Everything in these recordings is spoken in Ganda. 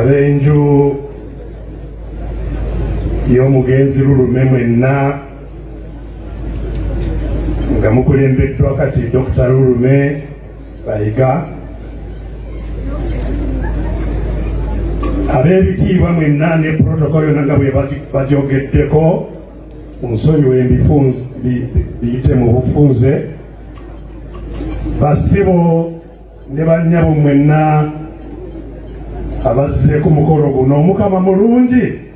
ab'enju y'omugenzi lulume mwenna nga mukulembeddwa kati Dr. Lulume bayiga ab'ebitiibwa mwenna ne protocol yonna nga bwe bajogeddeko onsonyiwe ebifunze biyite mu bufunze basibo ne bannyabo mwenna abazze ku mukolo guno omukama mulungi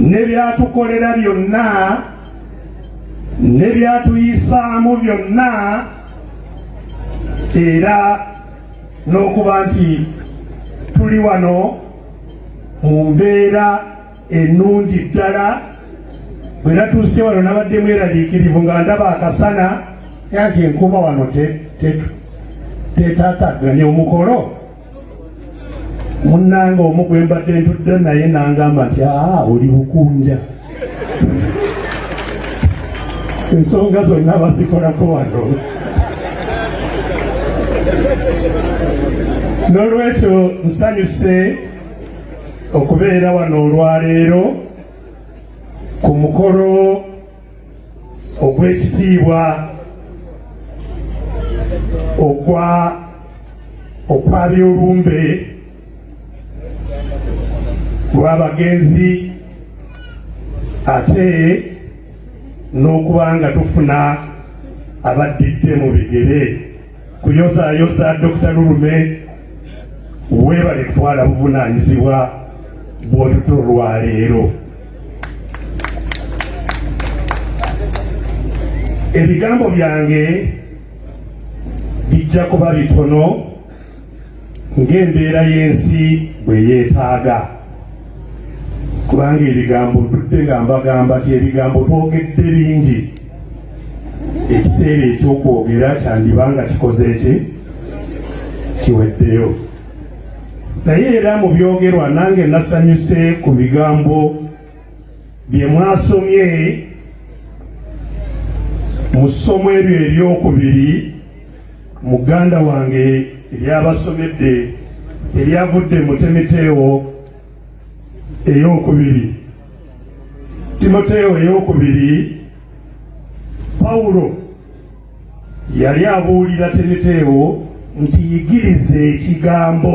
ne byatukolera byonna ne byatuyisaamu byonna era n'okuba nti tuli wano mu mbeera ennungi ddala bwe natuuse wano nabadde mweraliikirivu nga ndaba akasana yanti enkuba wano tetatagganya omukolo munnange omu gwe mbadde ntudde naye nangamba nti aa oli bukunja ensonga zonna bazikolako wano n'olwekyo nsanyuse okubeera wano olwaleero ku mukolo ogw'ekitiibwa ogwa okwabyolumbe lw'abagenzi ate n'okuba nga tufuna abaddidde mu bigere kuyozayoza Dr. Lulume webale kutwala buvunanyizibwa bwotuto lwaleero ebigambo byange bijja kuba bitono ng'embeera y'ensi bwe yeetaaga kubanga ebigambo ntudde nga mbagamba ti ebigambo twogedde bingi ekiseera ekyokwogera kyandiba nga kikoze ki kiweddeyo naye era mu byogerwa nange nasanyuse ku bigambo bye mwasomye mu ssomo eryo eryokubiri muganda wange ebyabasomedde ebyavudde mu temiteewo ey'okubiri timoteewo ey'okubiri pawulo yali abuulira temiteewo nti yigiriza ekigambo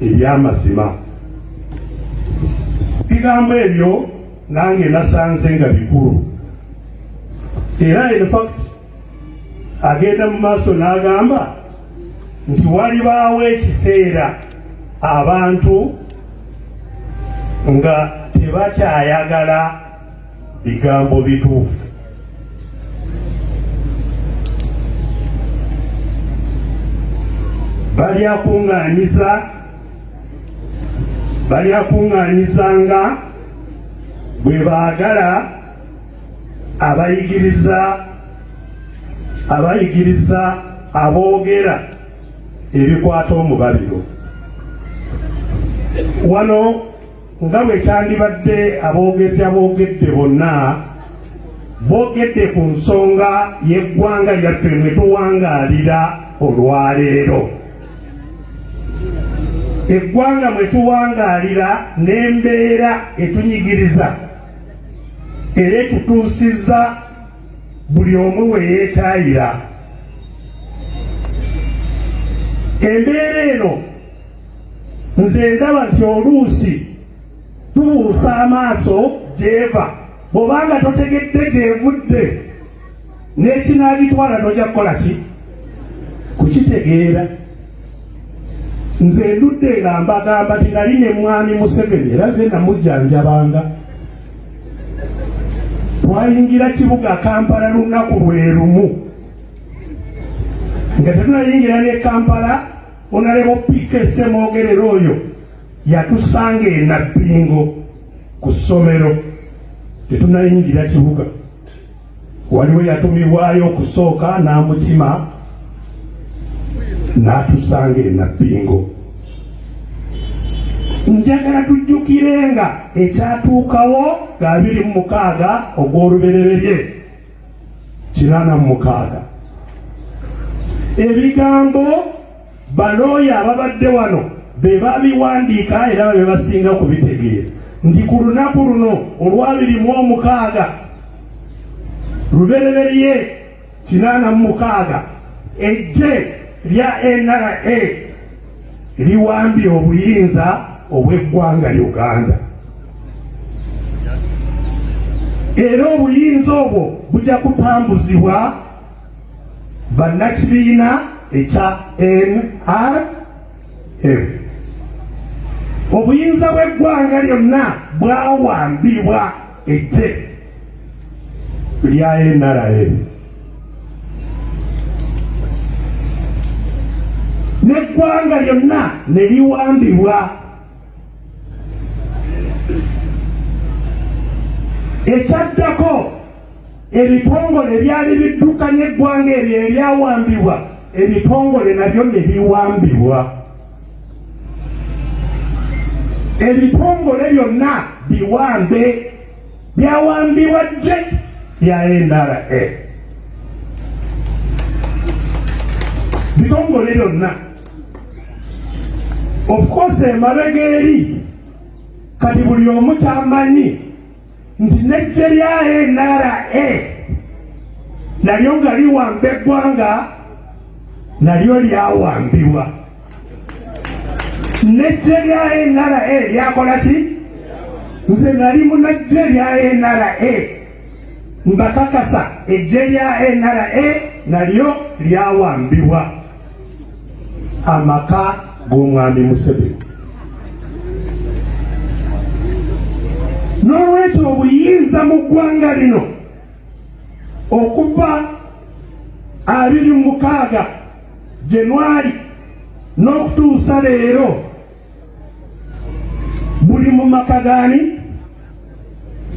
eby'amazima bigambo ebyo nange nasanze nga bikulu era in fact agenda mu maaso n'agamba nti walibaawo ekiseera abantu nga tebakyayagala bigambo bituufu. balyakuŋŋaanyiza balyakuŋŋaanyizanga bwe baagala abayigiriza abayigiriza aboogera ebikwata omubabiro wano nga bwe kyandibadde aboogezi aboogedde bonna boogedde ku nsonga y'eggwanga lyaffe mwe tuwangaalira olwaleero eggwanga mwe tuwangaalira n'embeera etunyigiriza era etutuusizza buli omu we yeekyayira embeera eno nze ndaba nti oluusi tubuusa amaaso gyeva bwobanga totegedde gyevudde n'ekinaagitwala noja kukola ki kukitegeera nze ndudde nga mbagamba ti nali ne mwami museveni era ze namujjanjabanga twayingira kibuga kampala lunaku lwe lumu nga tetunayingira ne kampala Onalebo PK Semwogerere oyo yatusanga e Nabbingo ku ssomero tetunayingira kibuga, waliwo yatumibwayo okusooka n'amukima n'atusanga e Nabbingo. Njagala tujjukirenga ekyatuukawo nga abiri mu mukaaga ogw'olubereberye kinaana mu mukaaga ebigambo balooya ababadde wano be babiwandiika era babe basinga kubitegeera nti ku lunaku luno olwabiri mu omukaaga lubereberye kinaana mu mukaaga ejje lya nra liwambye obuyinza obw'eggwanga Uganda era obuyinza obwo bujja kutambuzibwa bannakibiina ekya NRM obuyinza bw'eggwanga lyonna bwawambibwa Eggye lya NRM n'eggwanga lyonna ne liwambibwa ekyaddako ebitongole ebyali biddukanya eggwanga eryo eryawambibwa ebitongole nabyo ne biwambibwa ebitongole byonna biwambe byawambibwa je bya ndra bitongole byonna of course emabega eri kati buli omu kyamanyi nti n'eggye lya nra nalyo nga liwamba eggwanga nalyo lyawambibwa n'eggye lya nra lyakola ki nze nali munajje lya nra mbakakasa eggye lya nra nalyo lyawambibwa amaka g'omwami Museveni. N'olwekyo obuyinza mu ggwanga lino okuva abiri mu mukaaga Januari n'okutuusa leero buli mu maka gaani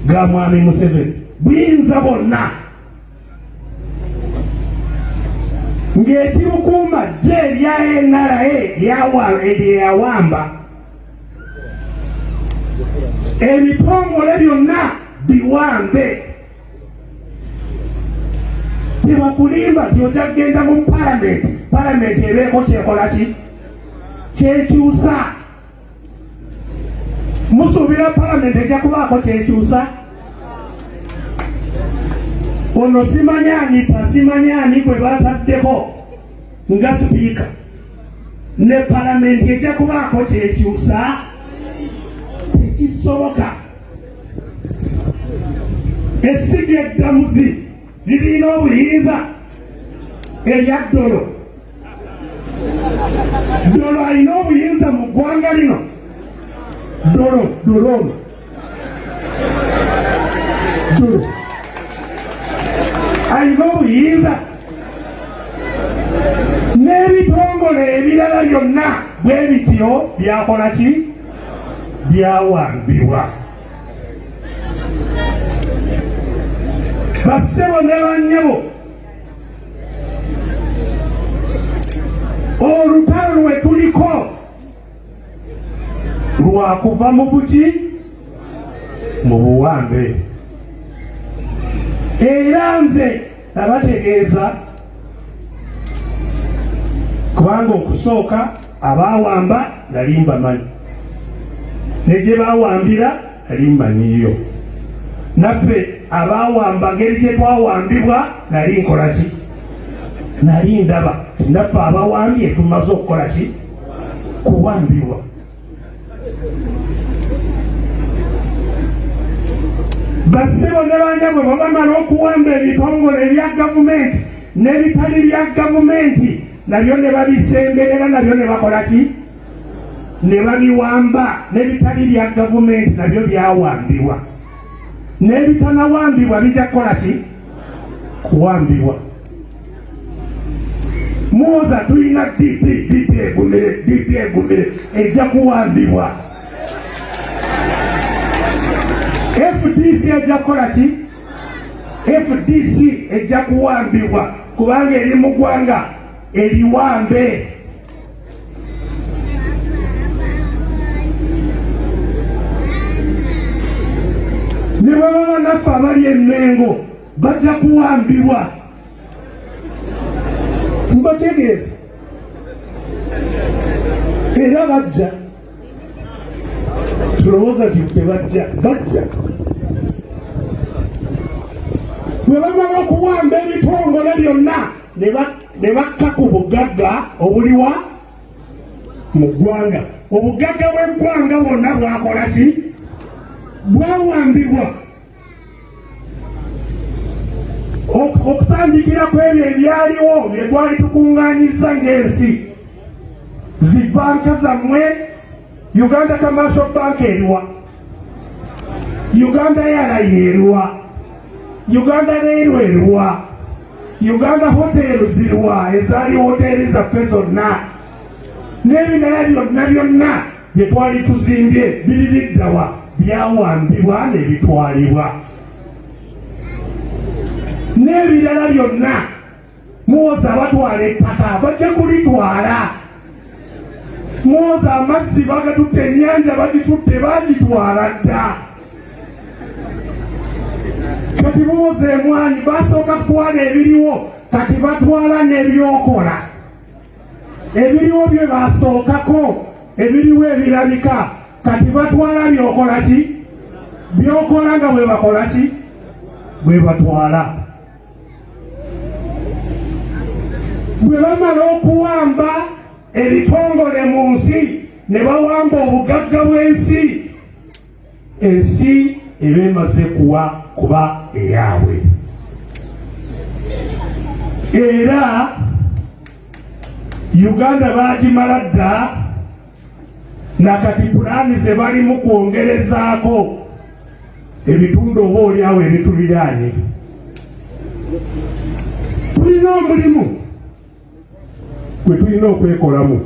ga mwami Museveni buyinza bonna ng'ekimukuuma jje erya NRA lyeyawamba ebitongole byonna biwambe tebakulimba nti ojja kugenda mu palamenti palamenti ebeeko kyekola ki kyekyusa musuubira palamenti ejja kubaako kyekyusa ono simanya ani tasimanya ani gwe bataddeko nga sipiika ne palamenti ejja kubaako kyekyusa tekisoboka esiga eddamuzi lirina obuyinza erya ddolo ddolo alina obuyinza mu ggwanga lino ddolo ddolo ono ddolo alina obuyinza n'ebitongole ebirala byonna bwe bityo byakola ki byawambibwa bassebo ne bannyabo olutalo lwe tuliko lwakuva mu buki mu buwambe era nze Nabategeeza kubanga okusooka abaawamba nali mbamanyi ne gye baawambira nali mmanyiyo naffe abaawamba ngeri gye twawambibwa nali nkola ki nali ndaba naffe abawambye tumaze okukola ki kuwambibwa Bassebo ne banyabwe bwe bamala okuwamba ebitongole ebya gavumenti n'ebitali bya gavumenti nabyo ne babisemberera nabyo ne bakola ki ne babiwamba n'ebitali bya gavumenti nabyo byawambibwa n'ebitanawambibwa bijja kukola ki kuwambibwa muwoza tulina dp dp egumire dp egumire ejja kuwambibwa fdc ejja kukola ki fdc ejja kuwambibwa kubanga eri mu gwanga eriwambe ne baba banaffe abali emengo bajja kuwambibwa mbategeeza era bajja tulowooza nti tebajja bajja bwe bamala okuwamba ebitongole byonna ne bakka ku bugagga obuliwa mu ggwanga obugagga bw'eggwanga bwonna bwakola ki bwawambibwa okutandikira ku ebyo ebyaliwo bye twali tukuŋŋaanyizza ng'ensi zi banka zammwe uganda kamaso banka eriwa uganda yaraini eriwa uganda reirwe eriwa uganda hoteelu ziriwa ezaali hoteeri zaffe zonna n'ebirala byonna byonna bye twali tuzimbye biri biddawa byawambibwa nebitwalibwa n'ebirala byonna muwoza abatwala ettaka bajja kulitwala muwoza amazzi bagatutte ennyanja bagitutte bagitwala dda kati muwoza emwanyi basooka kutwala ebiriwo kati batwala n'ebyokola ebiriwo bye basookako ebiriwo ebirabika kati batwala byokola ki byokola nga bwe bakola ki bwe batwala bwe bamala okuwamba ebitongole mu nsi ne bawamba obugagga bw'ensi ensi eba emaze kuwa kuba eyaabwe era uganda bagimala dda nakati pulaani ze balimu kwongerezaako ebitundu oba olyawo ebituliraanye tulina omulimu gwe tulina okwekolamu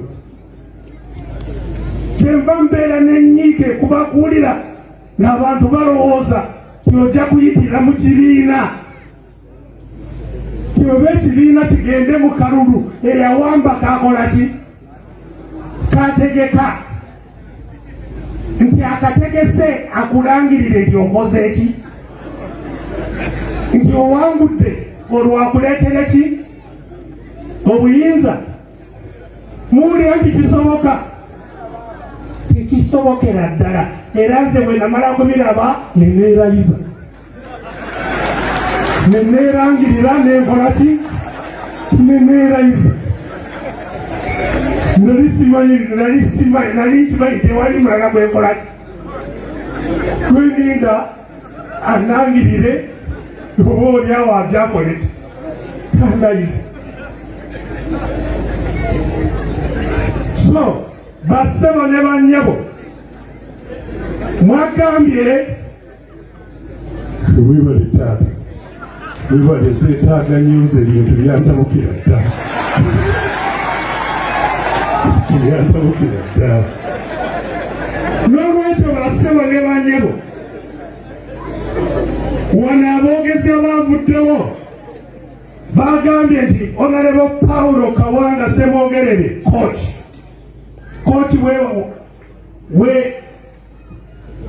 kyenva mbeera nenyiike kubakuwulira ng'abantu balowooza tiojja kuyitira mu kibiina tioba ekibiina kigende mu kalulu eyawamba kakola ki kategeka nti akategese akulangirire nti okoze ki nti owangudde olwakuleetere ki obuyinza muwulira nti kisoboka tekisobokera ddala era nze bwe namala kubiraba ne neerayiza ne neerangirira nenkola ki ne neerayiza nali simanyi nali simanyi nali nkimanyi tewali mulala gwenkolaki gweninda anangirire oba olyawo ajakoleki kandayizi so bassebo ne bannyabo mwagambye webale taata webale zetaaga news ebintu byantabukira dda byantabukira dda n'olwekyo basebo ne banyebo wano aboogezi abaavuddewo bagambye nti onalebo pawulo kawanga semwogerere koki koki we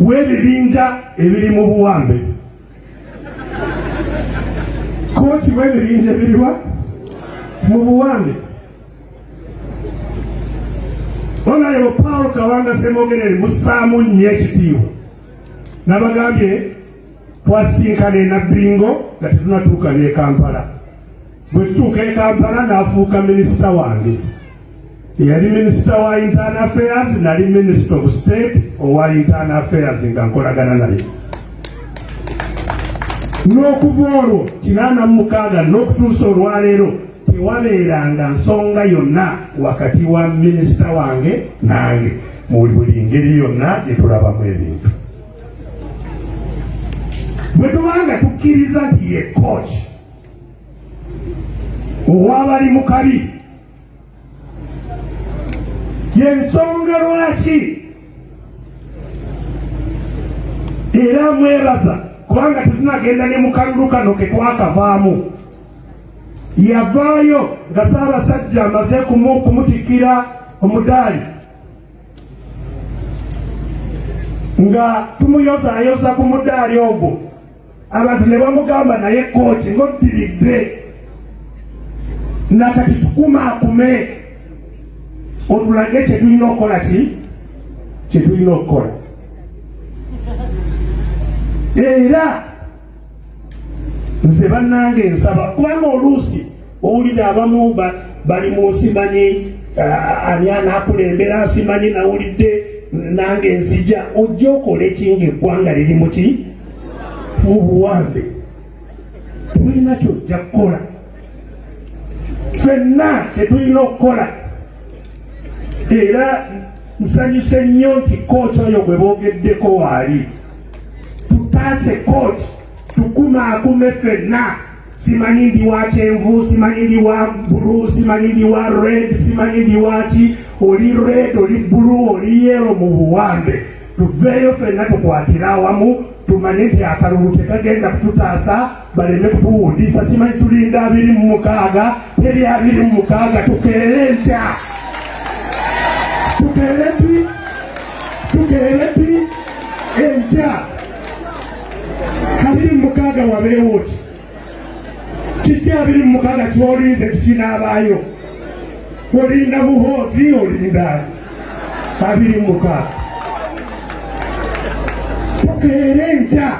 w'ebibinja ebiri mu buwambe kooki w'ebibinja ebiriwa mu buwambe onalebo paul kawanga semogerere musaamu nnyo ekitiibwa nabagambye twasinkana enabingo nga tetunatuuka ne kampala Bwe tutuuka e Kampala n'afuuka minisita wange. Yali minisita wa internal affairs, nali minisita of state owa internal affairs nga nkolagana naye n'okuva olwo kinaana mu mukaaga n'okutuusa olwaleero tewabeeranga nsonga yonna wakati wa minisita wange nange mu buli ngeri yonna gye tulabamu ebintu bwe tubanga tukkiriza nti ye kooki owabali mu kabi yensonga lwaki era mwebaza kubanga tetunagenda ne mukalulu kano ketwakavaamu yavaayo nga saabasajja amaze kumutikira omudaali nga tumuyozayoza ku mudaali ogwo abantu ne bamugamba naye kooki ng'oddiridde nga kati tukumaakume otulage kyetulina okukola ki kyetulina okukola era nze bannange nsaba kubanga oluusi owulira abamu bali mu nsi manyi ah, ani anakulembera nsimanyi nawulidde nange nzija ojja okola ekinga eggwanga liri muki obuwambe tulina kyojja kukola fenna kyetulina okukola era nsanyuse nnyo nti kooki oyo gwe boogeddeko waali tutaase kooki tukumakume fenna simanyi ndi wa kyenvu simanyi ndi wa bulu simanyi ndi wa red simanyi ndi waki oli red oli bulu oli yero mu buwambe tuveeyo fenna tukwatire awamu tumanye nti akalulu tekagenda kututaasa baleme kutuwundisa simanyi tulinda abiri mu mukaaga teri abiri mu mukaaga tukeere ntya tukeere pi tukeere pi entya kabiri mu mukaaga wabeewo ki kiki abiri mu mukaaga kyolinze kikinaabaayo olinda muhoozi olinda abiri mu mukaaga tukeere enkya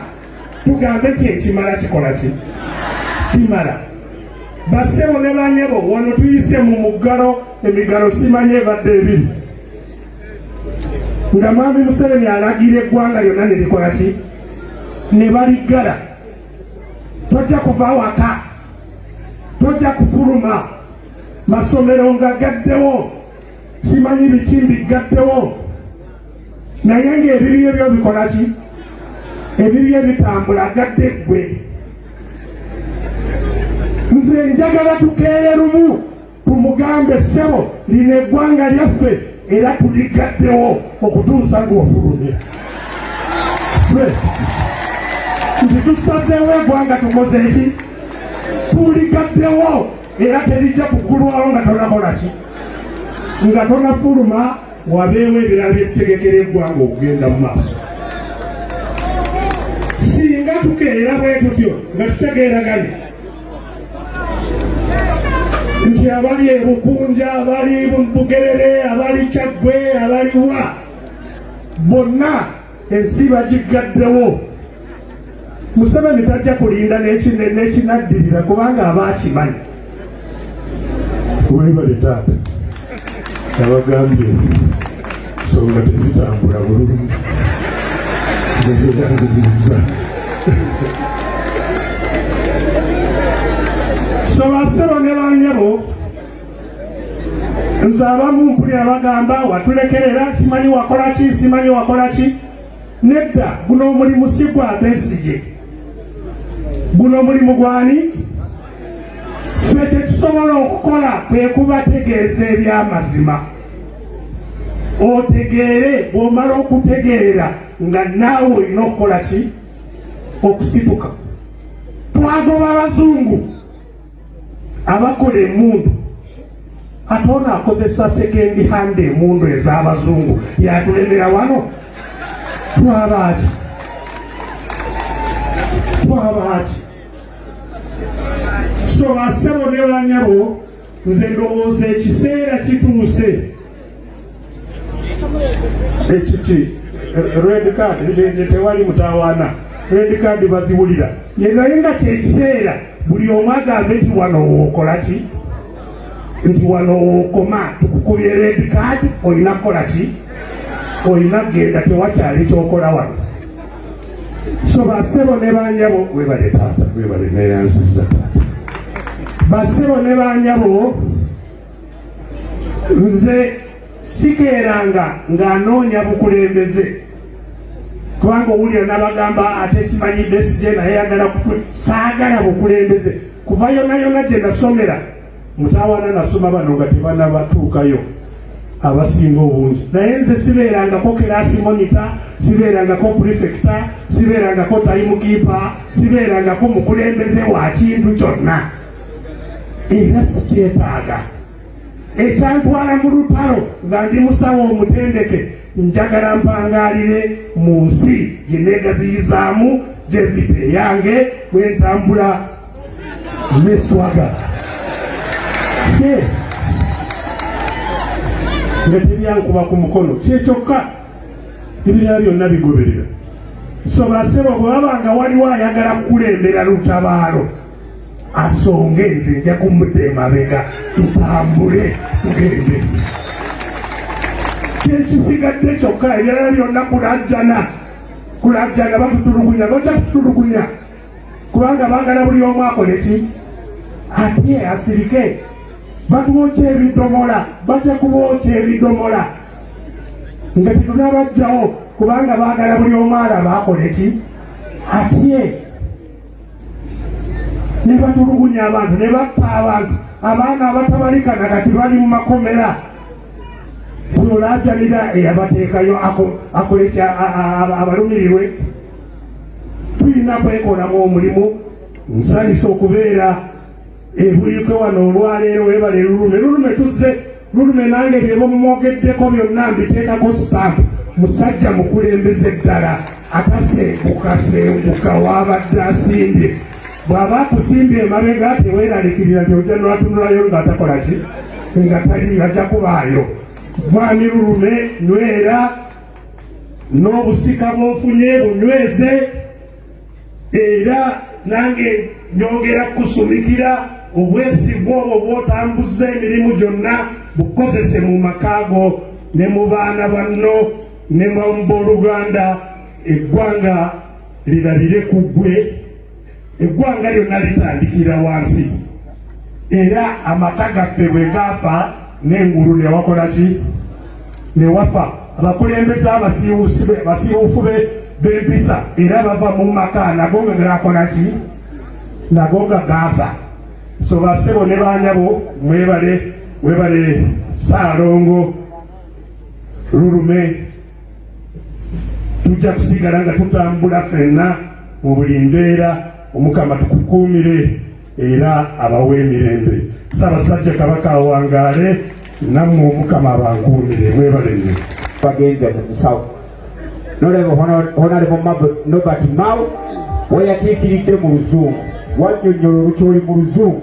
tugambe ki ekimala kikola ki kimala basebo ne banyebo wano tuyise mu muggalo emigalo simanye ebadde ebiri nga mwami Museveni alagira eggwanga lyonna ne likola ki ne baliggala tojja kuva waka tojja kufuluma masomero nga gaddewo simanyi biki mbiggaddewo naye ng'ebibye byo bikola ki ebibye bitambula gadde ggwe nze njagala tukeeye lumu Tumugambe ssebo, lino eggwanga lyaffe era tuligaddewo okutuusa nga ofulumye. Nti tusazeewo eggwanga tukoze ki? Tuligaddewo era terijja kugulwawo nga tonakola ki? Nga tonafuluma wabeewo ebirala byetutegekera eggwanga okugenda mu maaso. Singa tukeera bwe tutyo nga tutegeeraganye nti abali ebukunja abali bugerere abali kyaggwe abaliwa bonna ensi bagiggaddewo museveni tajja kulinda nekinaddirira kubanga aba akimanyi webale taata abagambye ensonga tezitambula bulungi ngebyeyangizizza so basebo ne banyabo nze abamu mpulira bagamba watulekerera simanyi wakola ki simanyi wakola ki nedda guno omulimu si gwa besigye guno omulimu gwani ffe kyetusobola okukola kwe kubategeeza ebyamazima otegeere bwomala okutegeera nga naawe olina okukola ki okusituka twagoba abazungu abakola emundu ate ono akozesa sekendi hande emundu ez'abazungu yatulemera wano twabaaki twabaaki so asebo ne banyabo nze ndowooza ekiseera kituuse ekiki red card nge tewali mutawaana red card baziwulira ye naye nga kyekiseera buli omu agambe nti wano wookola ki nti wano wookoma tukukubye red card olina kukola ki olina kugenda tewakyali kyokola wano so basebo ne banyabo webale taata webale neyansiza taata basebo ne banyabo nze sikeeranga ng'anoonya bukulembeze kubanga owulira nabagamba ate simanyi besije naye yagala saagala bukulembeze kuva yonayona gye nasomera mutawana nasoma bano nga tebanabatuukayo abasinga obungi naye nze sibeerangako keraasi monita sibeerangako purifekita sibeerangako tayimukiipa sibeerangako mukulembeze wa kintu kyonna era sikyetaaga ekyantwala mu lutalo nga ndi musawo omutendeke njagala mpangaalire mu nsi gye neegaziyizaamu gyembite eyange bwentambula ne swaga yes nga tebyankuba ku mukono kyekyokka ebirala byonna bigoberera so basebo bwe babanga waliwo ayagala kukulembera lutabaalo asonge nze nja kumudda emabega tutambule tugende kyekisigadde kyokka ebirala byonna kulajjana kulajjana batutulugunya bajja kututulugunya kubanga baagala buli omu akole ki atye asirike batuwokya ebidomola batya kubookya ebidomola nga tetunabajjawo kubanga baagala buli omu alaba akole ki atye ne batulugunya abantu ne batta abantu abaana abatabalika na kati bali mu makomera olaajanira eyabateekayo akolekya abalumirirwe tulina kwekolamu omulimu nsanyusa okubeera ebuikwe wano olwaleero webale lulume lulume tuzze lulume nange byebamumwogeddeko byonna mbiteekako stamp musajja mukulembeze ddala atasengukasenguka wabadde asimbye bw'aba akusimbye emabega teweeralikirira gyojja nwatunulayo nga atakola ki nga tali ajja kubaayo mwami lulume nywera n'obusika bw'ofunye bunyweze era nange nyongera kukusumikira obwesigwa obwo bw'otambuza emirimu gyonna bukozese mu maka go ne mu baana banno ne mu booluganda eggwanga lirabire ku ggwe eggwanga lyonna litandikira wansi era amaka gaffe bwe gaafa n'engulu newakola ki newafa abakulembeze abasiiwufu b'empisa era bava mu maka nago nga gaakola ki nago nga gaafa so basebo ne baanyabo mwebale webale saalongo lulume tujja kusigala nga tutambula fenna mu buli mbeera omukama tukukuumire era abawe emirembe ssaabasajja kabaka awangaale nammwe omukama abankuumire mwebalenne bagenze mu musawo nolaba honalebo nobert mao weyatiikiridde mu luzungu wanyonyola olukyoli mu luzungu